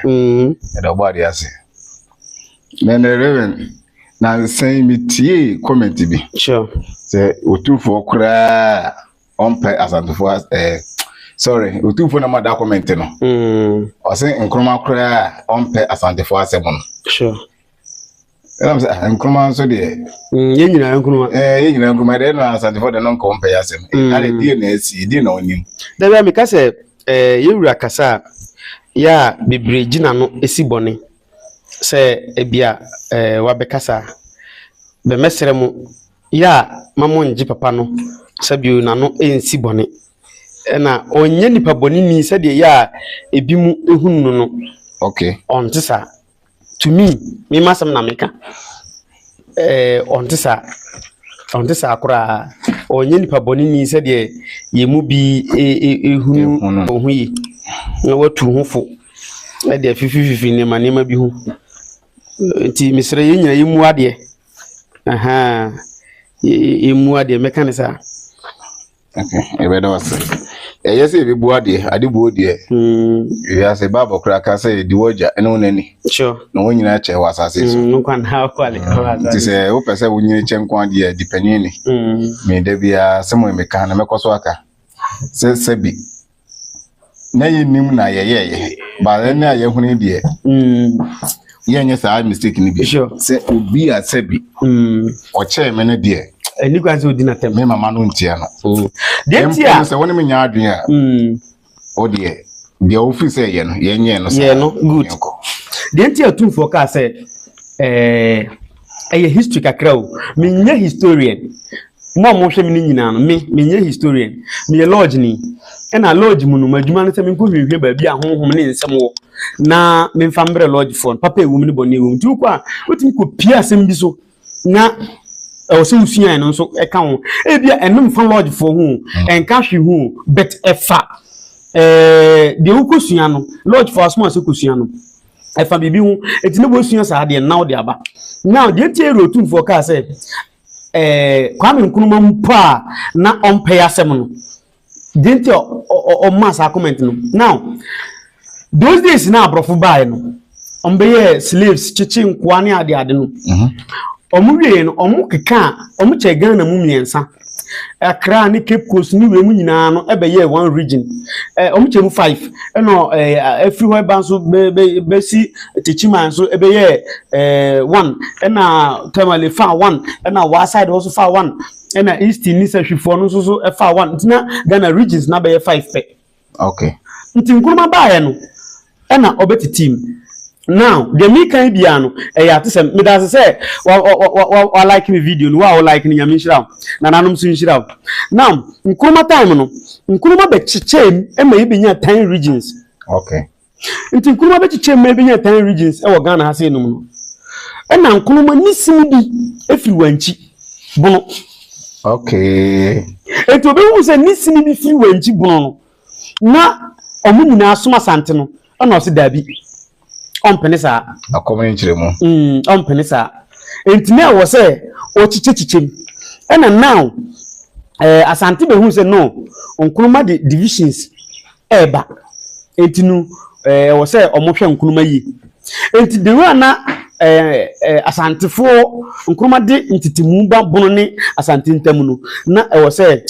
Mm. Ɛda ɔbɔ adeɛ ase. Na ɛnɛ Reverend, nansa yi metiee comment bi. Sure. Sɛ Otumfoɔ koraa ɔmpɛ Asantefoɔ as- eh, sorry, Otumfoɔ na ma da comment no. Mm. Ɔse Nkrumah koraa ɔmpɛ Asantefoɔ asɛm no. Sure. ɛnam sɛ ah, nkruma nso deɛ mm, yɛn nyinaa nkruma eh, yɛn nyinaa nkruma deɛ na asantefoɔ deɛ no nkɔ mpɛ yɛ asɛm mm. ade deɛ na asi deɛ na ɔnim da bia meka sɛ eh, yɛwura kasa a yɛ a bebree gyina no si bɔne sɛ ebia eh, wabɛkasa bɛmɛsrɛ mu yɛ a ma mo ngye papa no sɛ bio na no ɛnsi bɔne ɛna ɔnyɛ nipa bɔne ni sɛdeɛ yɛ a ebi mu ehunu no no okay ɔnte saa to me me ma sɛm na meka eh, ɔnte saa ɔnte saa koraa ɔnyɛ nipa bɔne ni sɛdeɛ yɛn mu bi ɛhunu ɔho yi na watu ho fo ɛde afifififi nneɛma nneɛma bi ho nti mesrɛ yɛn nyina yɛmu adeɛ aha yɛmu adeɛ mɛka ne saa Yɛbɛda wo ase. Ɛyɛ sɛ yɛbɛbu adeɛ, ade buo deɛ. Mm. Wiase Bible koraa ka sɛ di w'agya ne wo n'ani. Sure. Na wɔn nyinaa kyɛ wɔ asase so. Mm, nkwa na akwale. Nti sɛ wopɛ sɛ wonyini kyɛ nkwa deɛ di panyin ni. Mm. Me da biara sɛ mo mmeka na mɛkɔ so aka. Sɛ sɛ bi na yɛnim na yɛyɛɛyɛ but ɛnɛ a yɛhunu yi deɛ mm. yɛnyɛ saa mistake no bi sɛ obi a sɛ bi mm. ɔkyɛɛ me no deɛ ɛni kwan sɛ ɔdi natɛm me mama no ntia no mm. deɛ nti a sɛ wone menya adwene a wo deɛ deɛ wofiri sɛ yɛ no yɛnyɛ no sɛ yɛ no good deɛ nti a tumfoɔ kaa sɛ ɛɛ ɛyɛ history kakra o menyɛ historian mo a mohwɛ me no nyinaa no me menyɛ historian meyɛ lodge ni ɛna lodge mu no m'adwuma no sɛ menkɔhwehwɛ baabi a honhom ne nsɛm wɔ na memfa mbrɛ lodge foɔ no papa ɛwom ne bɔne ɛwom nti wokɔ a wotumi kɔpie asɛm bi so na ɛwɔ sɛ wosuae no nso ɛka ho ebia ɛno mfa lodge foɔ ho mm. ɛnka hwe ho but ɛfa deɛ wokɔsua no lodge foɔ asom a sɛ kɔsua no ɛfa biribi ho eti na wɔasua saa deɛ nna ɔde aba now deɛ nti ɛyɛ otumfoɔ kaa sɛ ɛɛ kwame nkrumah mpo a na ɔmpɛ asɛm no deɛ nti ɔmma saa comment no now those days na aborɔfo baeɛ no ɔmbɛyɛ slaves kyekye nkoa ne ade ade no ɔmo mhm. wie no ɔmo keka ɔmo kyɛ ghana mu mmiɛnsa Accra ne Cape Coast ne wiem nyinaa no bɛyɛɛ one region. Eh, wɔn kyɛ mu five. Ɛna eh, afiri hɔ ɛba nso bɛ bɛ bɛsi Techiman nso ɛbɛyɛɛ eh, one. Ɛna Tamale fa one. Ɛna waa side hɔ nso fa one. Ɛna East ne Sahwifoɔ no nso so ɛfa one. Nti na Ghana regions na bɛyɛ five pɛ. Okay. Nti Nkrumah baeɛ no ɛna ɔbɛtitii mu. Now deɛ meka yi biara no ɛyɛ atesɛm. Meda ase sɛ wa wa wa wa wa like me video no. Wo a wo like no Nyame nhyira wo. Nananom nso nhyira wo. Now Nkrumah time no Nkrumah bɛkyekyɛɛ mu ma yɛbɛnya 10 regions. Okay. Nti nkruma bɛkyekyɛ mu ma ɛbɛnya tan regions wɔ Ghana ha sɛ enum no. Ɛna nkruma ne sini bi firi wankyi bono. Okay. Nti obɛhu sɛ ne sini bi firi wankyi bono no na ɔmo nyinaa som asante no ɛna ɔse daabi ɔmpene saa. Akɔm ne nkyerɛ mu. Mm, ɔmpene saa. Nti na ɛwɔ sɛ ɔkyekyɛ kyekyɛ mu. Ɛna now eh, asante bɛhu sɛ no nkruma de divisions reba. Enti no, ɛwɔ sɛ wɔhwɛ nkruma yie. Enti de wura na Asantefoɔ nkruma de ntetemu ba bono ne Asante ntam no, na ɛwɔ sɛ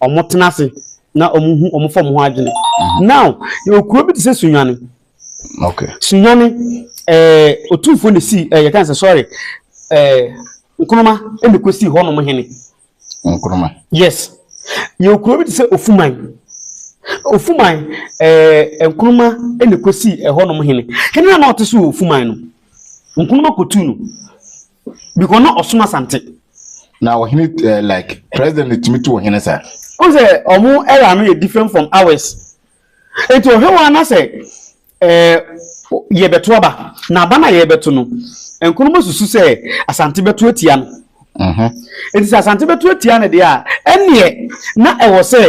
wɔtena ase na wɔhu wɔn fam ho adwene. Mhm. Now, yɛwɔ kuro bi te sɛ Sunyane. Okay. Sunyane, ɛɛ otumfoɔ na si ɛɛ yɛka sɛ sorry, ɛɛ nkruma ɛna kɔ si hɔ nom hene. Nkrumah. Yes. Yɛwɔ kuro bi te sɛ Ofuman. Ofuman, ɛɛ Nkrumah na ɛkɔsii ɛhɔnom hene. Hene na na ɔte so wɔ Ofuman no, Nkrumah kɔtuu no because na ɔsom Asante. Na ɔhene ɛɛ like president tumi tu ɔhene saa. Ɔn sɛ ɔmo era no yɛ different from ours. Nti ɔhwɛ wɔn anasɛ. Yɛbɛto aba, na aba no a yɛbɛto no, Nkrumah susu sɛ Asante bɛto atia no. Nti sɛ Asante bɛto atia no deɛ a, ɛnneɛ na ɛwɔ sɛ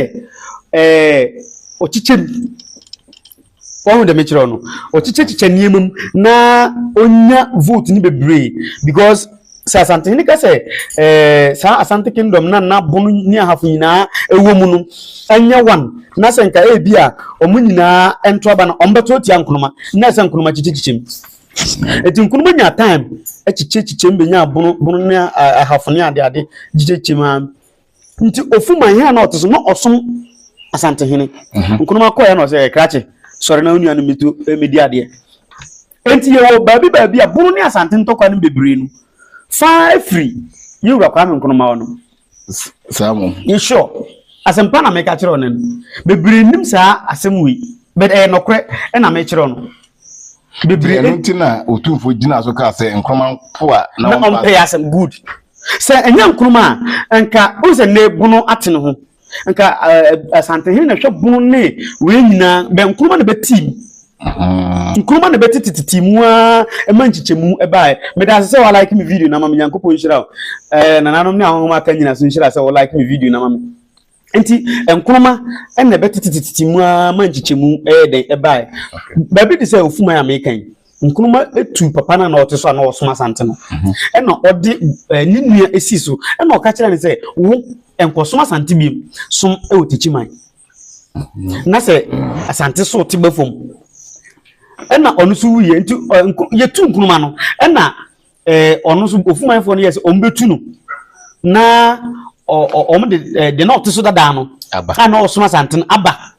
ɔkyekyɛ mu. Wɔn deɛ mekyerɛ no, ɔkyekyɛkyekyɛ nneɛma mu na ɔnya vote no bebree because sɛ asantehene ka sɛ ɛɛ eh, saa asante kingdom na n'abono ne ahafo nyinaa ɛwɔ mu no ɛnyɛ wan na sɛ nka ebi a wɔn nyinaa ɛnto aba na wɔn bɛto atia nkonoma na ɛsɛ nkonoma kyikyikyikyim eti nkonoma nya time ɛkyikyikyikyim benya abono bono ne ahafo ne ade ade kyikyikyikyim a nti ofuma ihe a na ɔte so na ɔsom asantehene mhm. nkonoma kɔɛ na ɔsɛ krakye sɔre na onua no mi to eh, mi di adeɛ. Enti yɛwɔ baabi baabi a Bono ne Asante ntɔkwa no mu bebree no fa firi yɛn Wura Kwame Nkrumah hɔ no. Saa mmom. Ye sure. Asɛmpa na meka kyerɛ wo nnɛ no. Bebree nnim saa asɛm wei, but ɛyɛ nɔkorɛ na mekyerɛ wo no. Bebree. Ɛno nti na Otumfo gyinaa so kaa sɛ Nkrumah mpo a na ɔmpɛ asɛm. Good. Sɛ ɛnyɛ Nkrumah a, nka wohu sɛ nnɛ Bono ate ne ho. Nka Asantehene na ɛhwɛ bono ne wei nyinaa, bɛ nkuruma na bɛtii mu. Nkuruma na bɛtitititi mu a ɛma nkyekyɛmu ɛbaeɛ. Meda ase sɛ wɔalike me video na ma me Nyankopɔn nhyira o. Nananom ne ahohom aka nyina so nhyira sɛ wɔlike me video na ma me. Nti nkuruma na bɛtitititi mu a ma nkyekyɛmu ɛyɛ dɛn ɛbaeɛ. Baabi te sɛ Ofuman a meka yi. nkruma tu papa no a na ɔte so a na ɔsom asante no mhm. ɛna ɔde eh, ne nua si so ɛna ɔka kyerɛ no sɛ wo nkɔsom asante bi som wɔ tikyi man mhm. na sɛ asante so te ba fam ɛna ɔno nso wuyɛ nti eh, yɛtu nkruma no ɛna eh, ɔno nso ofumanfoɔ no yɛ sɛ ɔmo bɛtu no na ɔmo de deɛ na ɔte so dadaa no a na ɔsom asante no aba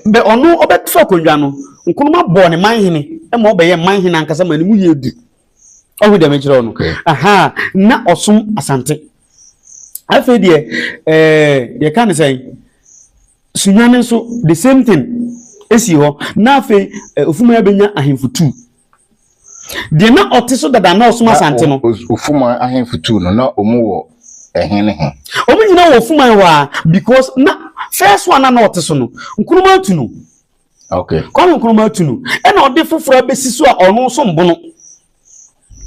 Bɛ ɔno ɔbɛto akonnwa no, Nkrumah bɔɔ no manhene ma ɔbɛyɛɛ manhene ankasa ma ne mu yɛɛ du. Ɔhu deɛ mekyerɛ wo no? Aha, na ɔsom Asante. Afei deɛ, ɛɛ, yɛka ne sɛn? Sunyane nso, the same thing, esi hɔ. Na afei, Ofumaya bɛnya ahemfo tu. Deɛ na ɔte so dada na ɔsom Asante no. Na Ofuman ahemfo tuu no na wɔn wɔ ɛhe ne he? Wɔn nyinaa wɔ Ofuman hɔ a because na first one na ɔte so no Nkrumah tu no. Okay. Kwame Nkrumah tu no ɛna ɔde foforɔ abɛsi so a ɔno nso mbono.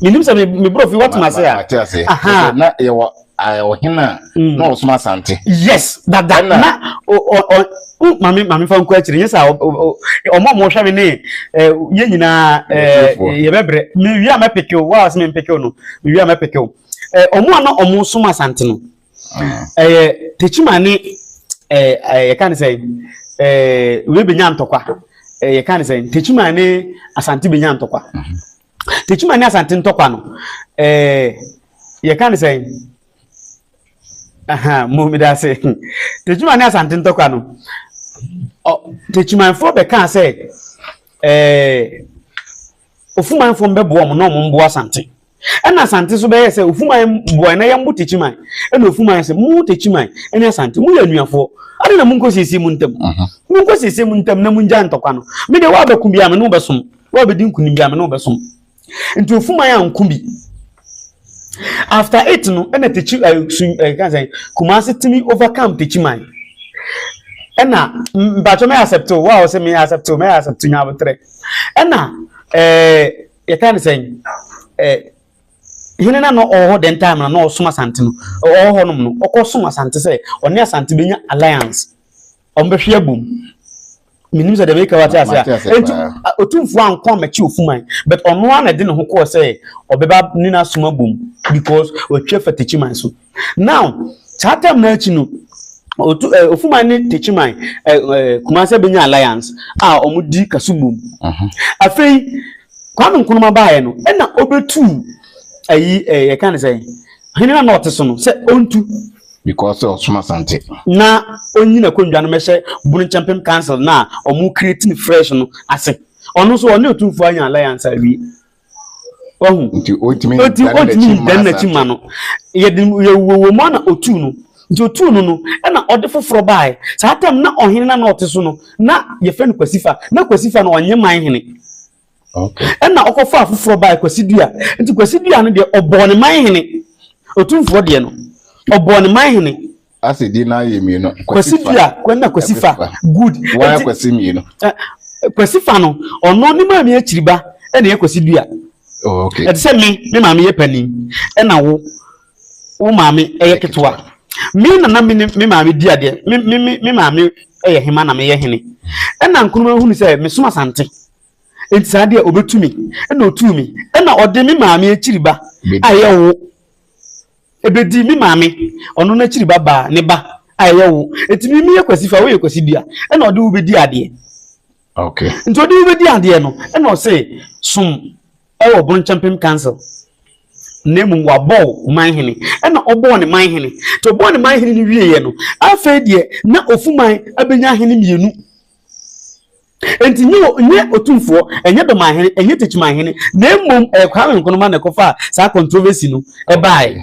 Menim sɛ me borɔfi wɔte ma se a. Wɔte ase. Na yɛwɔ ɔhene a mm. na ɔsom asante. yes dada na maame maame fa nkɔ akyire yɛsɛ ɔmo ɔmo hwɛ mi ne yɛ nyinaa yɛbɛbrɛ mi wia mɛ pekew wa ɔsɛ mi mpekew no mi wia mɛ pekew ɔmo a na ɔmo som asante no mm. ɛyɛ tekyima ne ɛɛ yɛka ne sɛ ɛɛ wei benya ntɔkwa ɛɛ yɛka ne sɛ tekyima ne asante benya ntɔkwa. Mm-hmm. Tekyima ne Asante ntɔkwa no, eh, yɛka ne sɛn? Aha, mo meda ase. Tekyima ne Asante ntɔkwa no, Tekyimanfoɔ bɛkaa sɛ, eh, Ofumanfoɔ mbɛboa wɔn na wɔn mboa Asante. Ɛna Asante nso bɛyɛ sɛ Ofuman boa na yɛn bo Tekyiman. Ɛna Ofuman sɛ, mo Tekyiman ne Asante, mo yɛ anuafoɔ. Ade na mo nkɔ siesie mo ntam. Mo nkɔ siesie mo ntam na mo ngya ntɔkwa no. Me deɛ wɔabɛko biara me ne wo bɛsom. Wabedi nkunim bia me ne wo bɛsom. Nti ofuman a nko bi. After it no ɛna tekyi ɛɛ eh, sun ɛɛ eh, kan sɛn kumasi timi overcome tekyi man. Ɛna mpatsɔ mɛ accept o wa ɔsɛ mɛ accept o mɛ accept nya abotire. Ɛna ɛɛ yɛ kan sɛn ɛɛ hene na na ɔwɔ hɔ dɛn time na na ɔsom asante no ɔwɔ hɔ nom no ɔkɔ som asante sɛ ɔne asante bɛnya alliance ɔmo bɛhwe abom menim sɛ deɛ meka wate ase a ɛnti ɔtumfoɔ ankɔ amakyi ofuman but ɔno a na ɛde ne ho kɔɔ sɛ ɔbɛba ne no asom abom because ɔtwa fa takyiman so now saa tam no akyi no otu ɛ ofuman ne takyiman ɛ ɛ kumase bɛnya alliance a wɔn di kaso bom afei kwame nkrumah baayɛ no ɛna ɔbɛtu ayi ɛ yɛka ne sɛn hene no a na ɔte so no sɛ ɔntu because sɛ ɔsom asante na ɔnyi n'akonnwa no mɛhyɛ bunu nkyɛmpem council no a ɔmo create no fresh no ase ɔno nso ɔne ɔtumfoɔ anya alliance awie ɔhu nti ɔtumi ɔti dane ɔtumi n'akyi ma dan n'akyi ma asante no yɛde yɛwuwɔ mu a na ɔtuu no nti ɔtuu no no ɛna ɔde foforɔ baeɛ saa tam na ɔhene no a na ɔte so no na yɛfrɛ no kwasifa na kwasifa no ɔnyɛ man hene Ɛnna ɔkɔfaa foforɔ bae, Kwasi Dua. Nti Kwasi Dua no deɛ, ɔbɔɔ ne man hene. Otumfoɔ deɛ no, ɔbɔɔ ne man hene. Ase din no ara yɛ mmienu. Kwasi Dua na Kwasi Fa. Good. Wɔn ayɛ Kwasi mmienu. Kwasi Fa no, ɔno ne maame akyiriba na ɛyɛ Kwasi Dua. Oh, okay. Ɛte sɛ me, me maame yɛ panin, ɛna wo. wo maame yɛ ketewa me na na me ne me maame di adeɛ me me me me maame yɛ hema na meyɛ hene ɛna nkuruma hunu sɛ mesom asante nti saa deɛ ɔbɛtu me ɛna ɔtuu me ɛna ɔde me maame akyiri ba a ɛyɛ wo ɛbɛdi me maame ɔno no akyiri ba baa ne ba a ɛyɛ wo ɛti me meyɛ kwasi fa woyɛ kwasi dua ɛna ɔde wo bɛdi adeɛ okay. nti ɔde wo bɛdi adeɛ no ɛna ɔse som wɔ Bonkyɛmpem Council na mmom wabɔɔ ɔman hene ɛna ɔbɔɔ ne man hene nti ɔbɔɔ ne man hene no wieɛ no afei deɛ na Ofuman abɛnya hene mmienu nti nyɛ nyɛ otumfoɔ ɛnyɛ dɔman hene ɛnyɛ techiman hene na mmom ɛyɛ Kwame Nkrumah na ɛkɔfaa saa controversy no ɛbaeɛ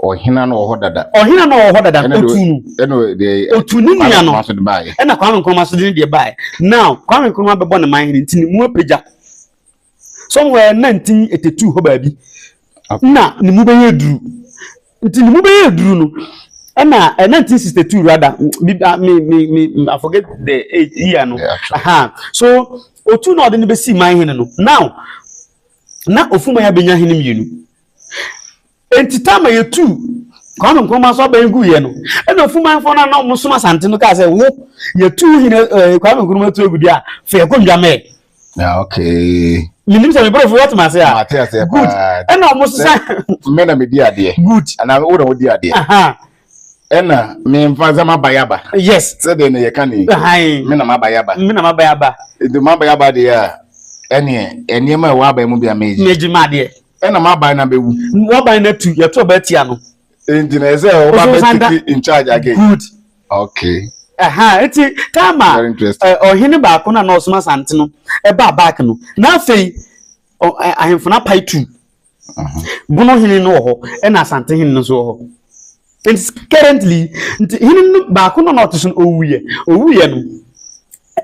ɔhena no wɔ hɔ dada ɔhena no wɔ hɔ dada Ɛna deɛ- otu no ɛna deɛ otu ne nua no Kwame so de baeɛ ɛna Kwame Nkrumah so de ne deɛ baeɛ now Kwame Nkrumah bɛbɔ ne man hene nti ne mu apagya Somewhere nna ntsin etetuu hɔ baabi, nna no mu bɛyɛ dur. Ntsi no mu bɛyɛ dur no, nna 1962 rather, me me me I forget the age year no, aha. So otuu na ɔde no besii man hen no, now na Ofuma-Yabenya hen mmienu. Enti tam a yɛtuu Kwame Nkrumah so abɛn guiɛ no, ɛna Ofumanfoɔ no a na wɔsom Asante no kaa sɛ, wo, yɛtu wo hene eh, Kwame Nkrumah tu agu deɛ a, fa yɛkɔ Ndwamɛɛ. Ah, okay. menim sɛ mebrɛfo watumi ase a mate aseɛ good paa ɛna ɔmo sɛ sesa me na medi adeɛ good anaa wo na wodi adeɛ aha ɛna memfa sɛ maba yɛ aba yes sɛdeɛ na yɛka ne ahan me na maba yɛ aba me na maba yɛ aba nti maba yɛ aba deɛ a ɛneɛ nneɛma a ɛwɔ aba mu bi a mɛgye megye ma adeɛ Ɛna m'aban no abɛwu. W'aban no atu, yɛto aba atia no. Nti na ɛsɛ ɔba bɛtiki in charge again. Good. Okay. Ɛha nti Tama ɔhene baako na na ɔsom asante no ɛbaa back no na afei ahemfo no apae tu. Bono hene no wɔ hɔ ɛna asante hene no nso wɔ hɔ. And currently, nti hene no baako no na ɔte so no owuiɛ. Owuiɛ no,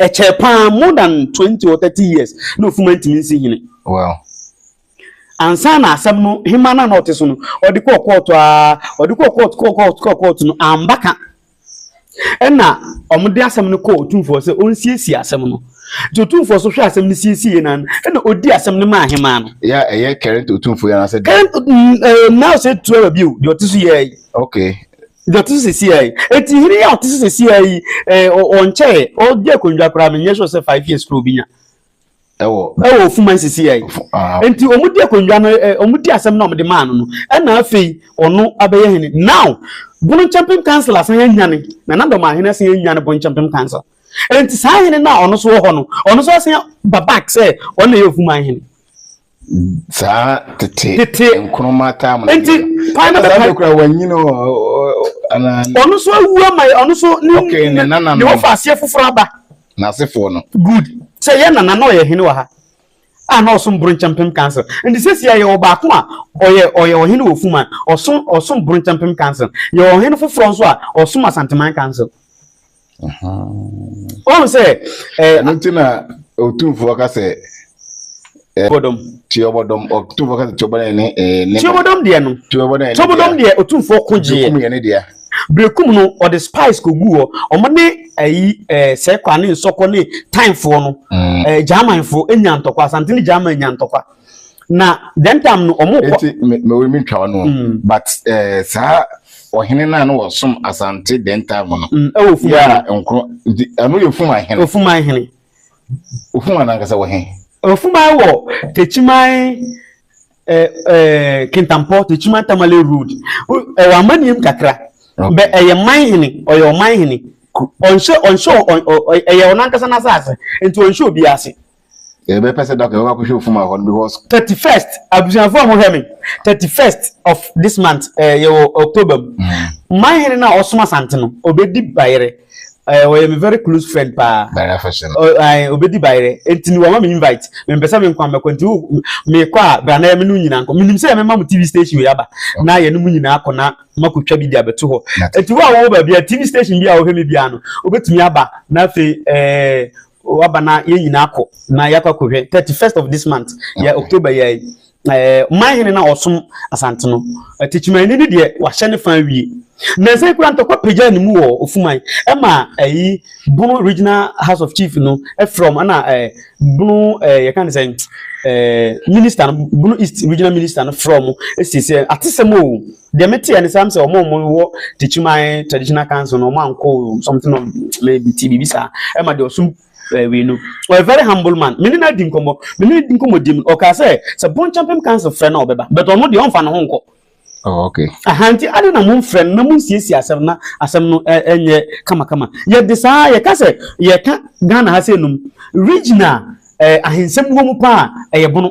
ɛkyɛɛ paa more than twenty or thirty years na ofuma ntumi nsi hene. Wow. Ansa na asɛm no hema no a na ɔte so no, ɔde kɔɔ kɔɔto aa, ɔde kɔɔ kɔɔto kɔɔ kɔɔto kɔɔ kɔɔto no amba ka. Ɛnna wɔde asɛm no kɔɔ otumfoɔ hɔ sɛ onsiesie asɛm no. Enti otumfoɔ nso hwɛɛ asɛm no siesiee no ara, ɛnna odii asɛm no maa ahemmaa no. Ya ɛyɛ current otumfoɔ yi anaasɛ da. Current mm, eh, now sɛ etu aba bio deɛ ɔte so yɛ yi. Okay. Deɛ ɔte so sisi yɛ yi. Eti hene yi a ɔte so sisi yɛ yi, eh, ɔ- ɔnkyɛɛ, ɔgye akonnwa koraa, menyɛ sure sɛ five years koraa obi nya. ɛwɔ ɛwɔ ofuma nsisi yɛ nti wɔn di akonnwa no ɛ wɔn di asɛm na wɔn de maa no no ɛna afei ɔno abɛyɛ hene now bonkyɛmpem council asan yɛ nyane na na dɔm ahene asan yɛ nyane bonkyɛmpem council nti saa hene na ɔno so wɔ hɔ no ɔno so asan ba back sɛ ɔno na yɛ ofuma hene. saa tete tete nkoroma taa mu nti kwan na bɛka kura wanyini o ana ɔno so awu ama ɔno so ne okay ne nana ne wɔfa aseɛ foforɔ aba n'asefoɔ no good sɛ yɛ nana na ɔyɛ hene wɔ ha a na ɔsom bronkyɛmpem council nti sɛsi a yɛwɔ baako a ɔyɛ ɔyɛ ɔhene wɔ fuma ɔsom ɔsom bronkyɛmpem council yɛwɔ ɔhene foforɔ nso a ɔsom asanteman council wohu sɛ ɛno nti na ɔtumfoɔ ka sɛ bɔdɔm tiɔbɔdɔm ɔtumfoɔ ka sɛ tiɔbɔdɔm ne ne tiɔbɔdɔm deɛ no tiɔbɔdɔm ne tiɔbɔdɔm deɛ ɔtumfoɔ ko gyeɛ bekum yɛ ne deɛ bekum no ɔde spice ko gu hɔ ɔmo ne ayi ɛɛ sɛkwa ne nsɔkɔ ne tanfoɔ no ɛɛ mm. eh, germanfoɔ enya ntɔkwa asante ne german nya ntɔkwa na dɛn tam no ɔmo kɔ. eti me me wei mi ntwa ɔno mm. but ɛɛ eh, saa ɔhene naa no wɔsom asante dɛn tam no mm, ɛwɔ fuma yɛ a nkoro nti ɛno yɛ fuma hene ofuma hene ofuma nankasa wɔ he ofuma wɔ tekyiman ɛɛ eh, ɛɛ eh, kintampɔ tekyiman tamale road ɛwɔ amaniam kakra bɛ ɛyɛ man hene ɔyɛ ɔman hene ɔnhyɛ ɔnhyɛ ɔyɛ ɔnankasa n'asase nti ɔnhyɛ obi ase. yɛbɛpɛ sɛ dɔkta bɛba kɔhwɛ ofuma hɔ no because. thirty first abusuafo a wɔhwɛ me thirty first of this month ɛɛ eh, yɛwɔ october mu mm. man hene na ɔsom asante no obedi bayerɛ ɛɛ eh, ɔyɛ me very close friend paa bayerɛ afɛhyɛ no ɛɛ obedi bayerɛ eti ni wɔn ma me invite me mpɛsɛ me nkwa mɛkɔ nti wo me kɔ a brana yɛ me no nyinaa nkɔ menim sɛ yɛ mɛma mo tv station yɛ aba na yɛ no mu nyinaa kɔ na ma ko twa bi di abɛto hɔ eti wo a wɔwɔ baabi a tv station bi a wɔhwɛ me bi ano obetumi aba na afei ɛɛ. Eh, O aba na yɛn nyinaa kɔ na yɛakɔ akɔhwɛ thirty first of this month yɛ October yɛ ɛɛ eh, manhene na ɔsom asante no tikyimanni ne deɛ wahyɛ ne fan wie nansa kura ntɔkwa pagya ne mu wɔ ofuman ɛma ɛyi bono regional house of chief no ɛfrɛ wɔn ɛna ɛɛ bono ɛɛ yɛka ne sɛn ɛɛ minister no bono east regional minister no frɛ wɔn ɛsiesie atesɛm o. Deɛ me teɛ ne saa sɛ ɔmo ɔmo wɔ Techiman traditional council no ɔmo ankɔ something of maybe ti biribi saa ɛma deɛ ɔsom ɛɛ wei no ɔyɛ very humble man me ne no adi nkɔmɔ me ne di nkɔmɔ di mu ɔkaa sɛ sɛ Bonchampem council frɛ na ɔbɛba but ɔno deɛ ɔnfa ne ho nkɔ. Oh, okay. Aha nti ade na mo mfrɛ no na mo nsiesie asɛm na asɛm no ɛnyɛ kamakama. Yɛde saa yɛka sɛ yɛka Ghana ha sɛ enum regional eh, ahensɛm wɔ mu paa ɛyɛ bono.